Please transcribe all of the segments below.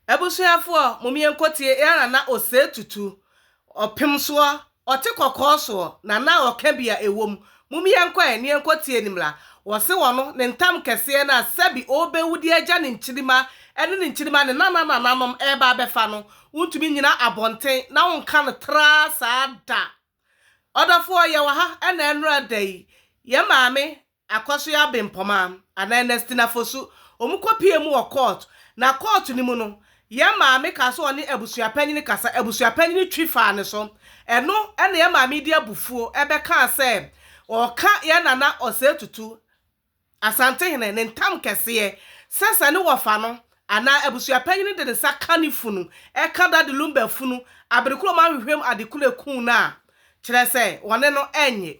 Abusuafoɔ, momeɛnkɔtie Ea na na ɔsɛe tutu ɔpem soɔ, ɔte kɔkɔɔ soɔ, na na ɔka bi a ɛwom. Momeɛnkɔ ɛ, neɛnkɔtie ne mmra. Wɔse wɔno, ne ntam kɛseɛ no a sɛbe ɔrebɛwu de agya ne nkyirima ne ne nkyirima ne nananananom reba abɛfa no, wontumi nnyina abɔnten na wonka no traa saa da. Ɔdɔfoɔ, yɛwɔ ha ɛna ɛnnora da yi, yɛn maame Akwasoɛ Abempɔma anaa Ernestina Fosu, wɔn kɔ pie mu wɔ court, na court no mu no, yɛn maame kaa sɛ ɔne abusua panyini kasa, abusua panyini twi faa ne so, ɛno na yɛn maame de abufuo bɛ kaa sɛ ɔɔka yɛn nana Osei Tutu, Asantehene, ne ntam kɛseɛ, sɛ sɛ ne wɔfa no anaa abusua panyini de ne nsa ka ne funu, ɛka Daddy Lumba funu, aberekoro ma ahwehwɛm adekunu ekuu no a, kyerɛ sɛ wɔne no ɛnnye.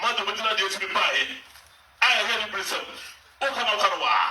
Marta obegyinaa deɛ etumi baa yɛ a ɛyɛ ne bere sɛm, Wokɔ na wokɔ no waa.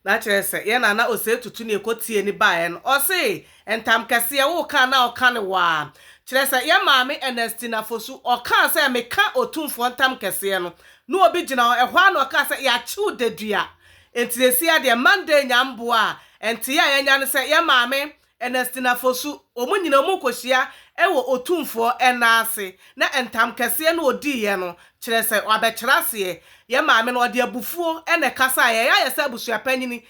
Na kyerɛ sɛ, yɛ na na ɔsɛ tutu ne ɛkɔ tie ne baa yɛ no. Ɔse, Ntam kɛseɛ, wokɔ a na ɔka no waa. Kyerɛ sɛ, yɛ maame Ernestina Fosu, ɔkaa sɛ, Meka Otumfoɔ ntam kɛseɛ no, na obi gyina hɔ, ɛhɔ ara na ɔkaa sɛ, Yɛakye wo dadua. Enti seesei ara deɛ, Monday nya mboa a, nteeɛ a yɛanya ne sɛ, yɛ maame Ernestina Fosu, wɔn nyinaa wɔkɔhyia wɔ Otumfoɔ nan ase, na ntam kɛseɛ na ɔdiiɛ no, kyerɛ sɛ, wabɛkyerɛ aseɛ. Yɛn maame no, ɔde abufuo na ɛkasaeɛ, ɛyɛ ayɛ sɛ abusuapanyin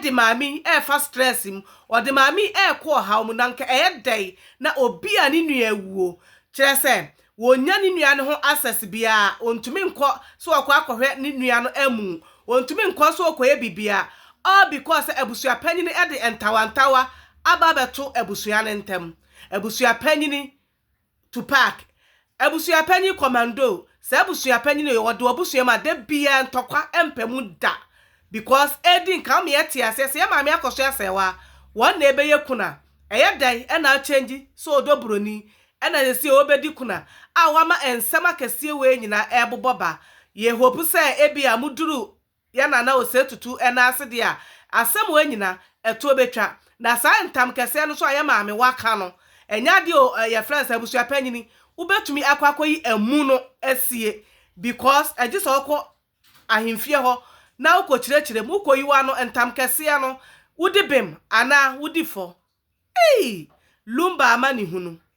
de maame yi refa stress mu, ɔde maame yi rekɔ ɔhaw mu, na anka ɛyɛ dɛn na obi a ne nua awuo, kyerɛ sɛ, Ɔnnya ne nua no ho access biara, ɔntumi nkɔ sɛ ɔkɔ akɔhwɛ ne nua no amu, ɔntumi nkɔ sɛ ɔkɔyɛ biribiara, all because sɛ abusuapanyin de ntawantawa aba abɛto abusua no ntam. Abusuapanyin Tupac, abusuapanyin Commando, saa abusuapanyin yi ɔde w'abusua mu a da biara ntɔkwa mpa mu da because ɛredi nka wo ma yɛte aseɛ sɛ yɛ maame akɔso asɛe wo a wɔn na ɛbɛyɛ kunu a ɛyɛ dɛn na a change sɛ ɔdɔ buroni Ɛna sesie wobedi kuna a wama nsɛm akɛseɛ wei nyinaa ɛrebobɔ ba. Yɛ hope sɛ ebia mo duru yɛ nana osei tutu ɛna ase deɛ a asɛm wei nyina ɛtoɔ bɛtwa. Na saa ntam kɛseɛ no nso a yɛ maame waka no ɛnyɛ adeɛ o ɛɛ yɛfrɛ no sɛ abusua panyini wobɛtumi akɔ akɔyi amu no asie because ɛgye sɛ wokɔ ahemfie hɔ na wokɔ kyirɛkyirɛ mu wokɔ yi wano ntam kɛseɛ no wodi bem anaa wodi fɔ eii Lumba amanehunu.